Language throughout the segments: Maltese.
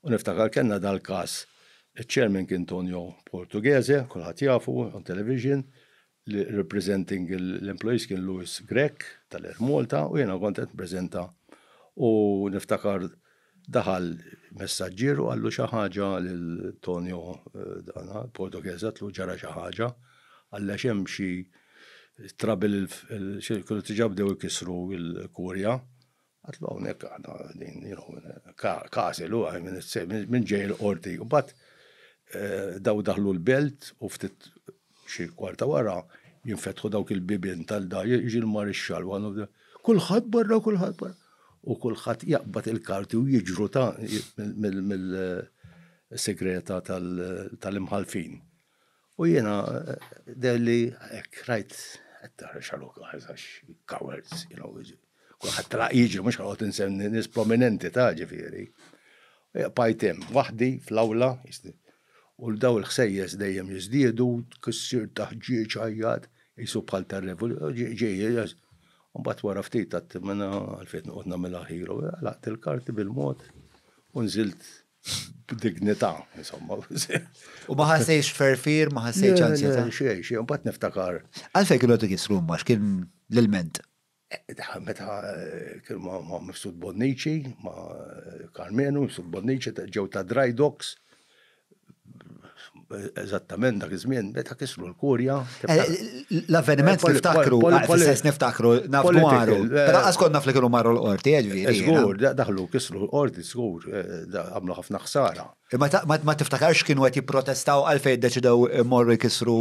U niftakar kellna dal-każ, iċ-Chairman kien Tonio Portughese, kulħadd jafu, on television, li representing l-employees kien Louis Grech tal-Air Malta u jiena kont qed nippreżenta u niftakar daħal messaġġier u qallu xi ħaġa lil Tonio dana, Portughese għatlu ġara xi ħaġa, qalli għax hemm xi trouble, kienu diġà bdew ikissru l-kurja, Għadlu hawnhekk aħna qegħdin nieħu każi lu għaj minn it-sejf, minn ġej il-qorti. U mbagħad daw daħlu l-belt u ftit xi kwarta wara jinfetħu dawk il-bibien tal-da jiġi l-marixxall u għandu kulħadd barra kulħadd barra. U kulħadd jaqbad il-karti u jiġru ta' mill-segreta tal-imħalfin. U jiena dehli hekk rajt qed tara xaluk għażax cowards, you know, kulħadd tlaq jiġi mhux ħadd insemmi nies prominenti ta' ġifieri. Bajt hemm waħdi fl-awla, u l daw il-ħsejjes dejjem jiżdiedu, tkissir ta' ħġieġ għajjat, qisu bħal tar-revoluzzjoni, Mbagħad wara ftit għadt minn għalfejn noqgħod nagħmilha ħielu, għalaqt il-karti bil-mod u nżilt B'dignità, insomma. U ma ħassejx ferfir, ma ħassejx anzjetà. Xejn, xejn, u bat niftakar. Għalfejn kienu qed ikissru ma x'kien l-ilment? Meta eh, kienu ma' ma' Mifsud Bonnici, ma' Karmenu, Mifsud Bonnici, ta- ġew ta' dry dogs, Eżattament dak iż-żmien meta kisru l-kurja. Eh, l-avveniment eh, niftakru, fil-sens eh, niftakru, naf dwaru. Però għaskonna fl kienu marru l-qorti, ġviri. Zgur, daħlu kisru l-qorti, zgur, għamlu ħafna ħsara. Ma tiftakarx kienu għet jiprotestaw għalfej deċidaw morru jkisru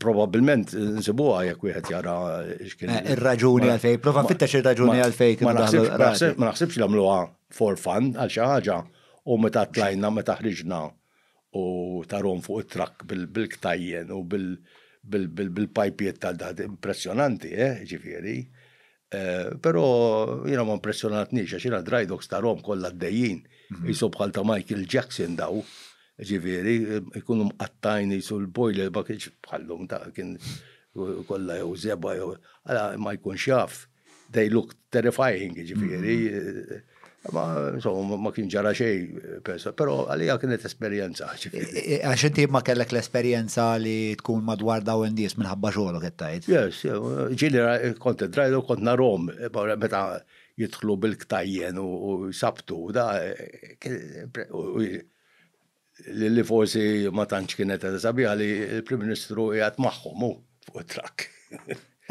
Probabilment nsibuha jekk wieħed jara x'kien. Eh, ir-raġuni għalfej, prova fittex ir-raġuni għalfej kien Ma naħsibx li għamluha for fun għal xi ħaġa u meta tlajna meta ħriġna u tarom fuq it-trakk bil-ktajjen u bil-pajpiet tal-daħt impressjonanti, eh, ġifieri. Però jiena ma impressjonatniex għax jiena dry dogs tarhom kollha għaddejjin. Qisu mhm. bħal ta' Michael Jackson daw. Ġifieri, ikunu mqattajn jisu l-boiler ma kienx bħallum ta' kien kollha jew zeba jew. Għala ma jkunx jaf. They look terrifying, ġifieri. Mhm. Ma, insomma, ma kien ġara xej, pero għalija kienet esperienza. Għax inti ma kellek l-esperienza li tkun madwar daw indies minħabba xogħolok qed tgħid. Yes, ġili kont drajlu kont narom meta jidħlu bil-ktajjen u sabtu da li forsi ma tantx kienet qed sabiħa li l-Prim Ministru qiegħed magħhom hu fuq it-trakk.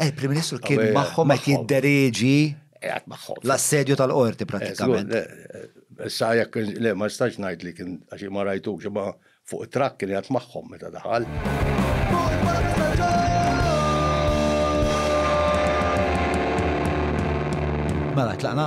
Eh, Prim Ministru kien magħhom qed jiddereġi qiegħed magħhom. L-assedju tal-qorti eh, pratikament. Eh, sa jekk le ma stax ngħid li kien għax ma rajtux imma fuq it-trakk kien qiegħed magħhom meta daħal. Mela, tlaqna?